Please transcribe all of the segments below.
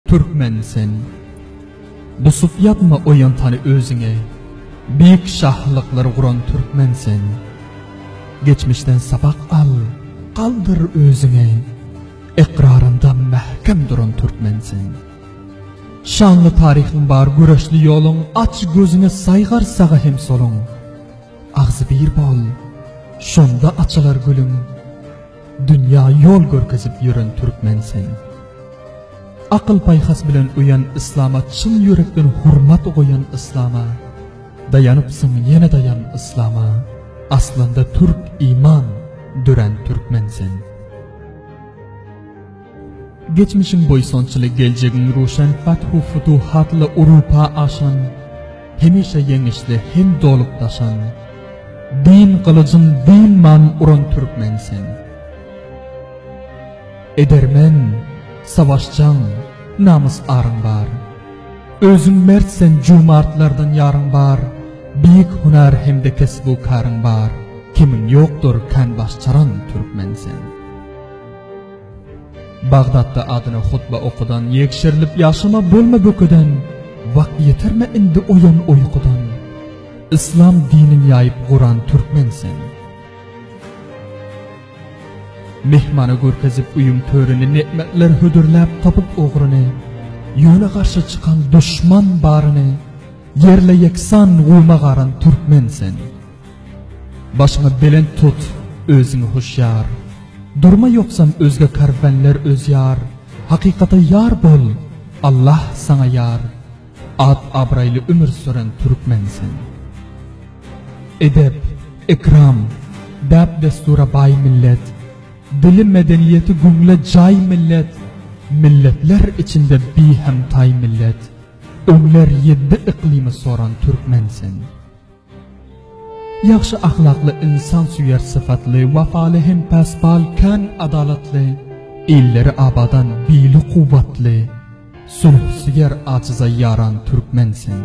Türkmen sen. Dusup ýatma oýantany özüňe. Beýik şahlyklary guran türkmen sen. Geçmişden sapak al, galdyr özüňe. Ykrarynda mähkem duran türkmen sen. Şanly taryhyň bar göreşli ýoluň, aç gözüňi saýgar saga hem soluň. Agzybir bol, şonda açylar gülüň. Dünýä ýol görkezip ýören türkmen sen. Akyl-paýhas bilen öýen yslama çyn ýürekden hormat goýan yslama. Daýanypsyň ýene daýan yslama. Aslynda türk iman dörän türkmen sen. Geçmişiň buýsançly geljegiň ruşen Fathu futuh atly urupa aşan Hemişe ýeňişli hem dolup daşan Diýn gylyjyn diýn man uran türkmen sen Edermen savaşjaň namys aryň bar Özüň mert sen jumartlardan ýaryň bar Beýik hunar hem-de kesbu karyň bar Kemiň ýokdur kän baş çaran türkmen sen. Bagdatda adyna hutba okudan ýekşerilip ýaşama bolma bökeden wagt ýeterme indi oýan oýkudan Yslam dinin ýaýyp guran türkmen sen. Mehmana görkezip uyum törüni netmetler hödürläp tapyp ogryny. Ýöne garşy çykan duşman baryny. Yerle yeksan guma garan türkmen sen. Başyňy belent tut, özüňi huşýar. Durma ýogsam özge karwenler özýar. Hakykata ýar bol, Allah saňa ýar. At-abraýly ömür süren türkmen sen. Edep, ekram, däp-dessura baý millet. Dili, medeniýeti göwne jaý millet. Milletler içinde bihemtaý millet. Öňler ýedi yklymy soran türkmen sen. Ýagşy ahlakly, ynsansöýer sypatly, wapaly hem päsbal, kän adalatly, illeri abadan, bili kuwwatly, sulhusöýer, ajyza ýaran türkmen sen.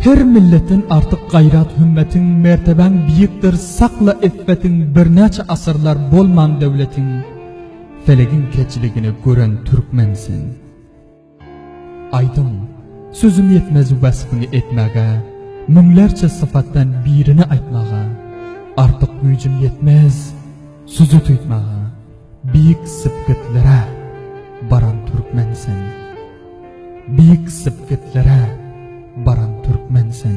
Her milletden artyk gaýrat-hümmetiň, mertebäň biýikdir, sakla yffetiň, birnäçe asyrlar bolman döwletiň, felegiň keçiligini gören türkmen sen. Aýdyň, sözüm ýetmez wasbyny etmäge, müňlerçe sypatdan birini aýtmaga, artyk güýjüm ýetmez sözi tuýtmaga, beýik sepgitlere baran türkmen sen. Beýik sepgitlere baran türkmen sen.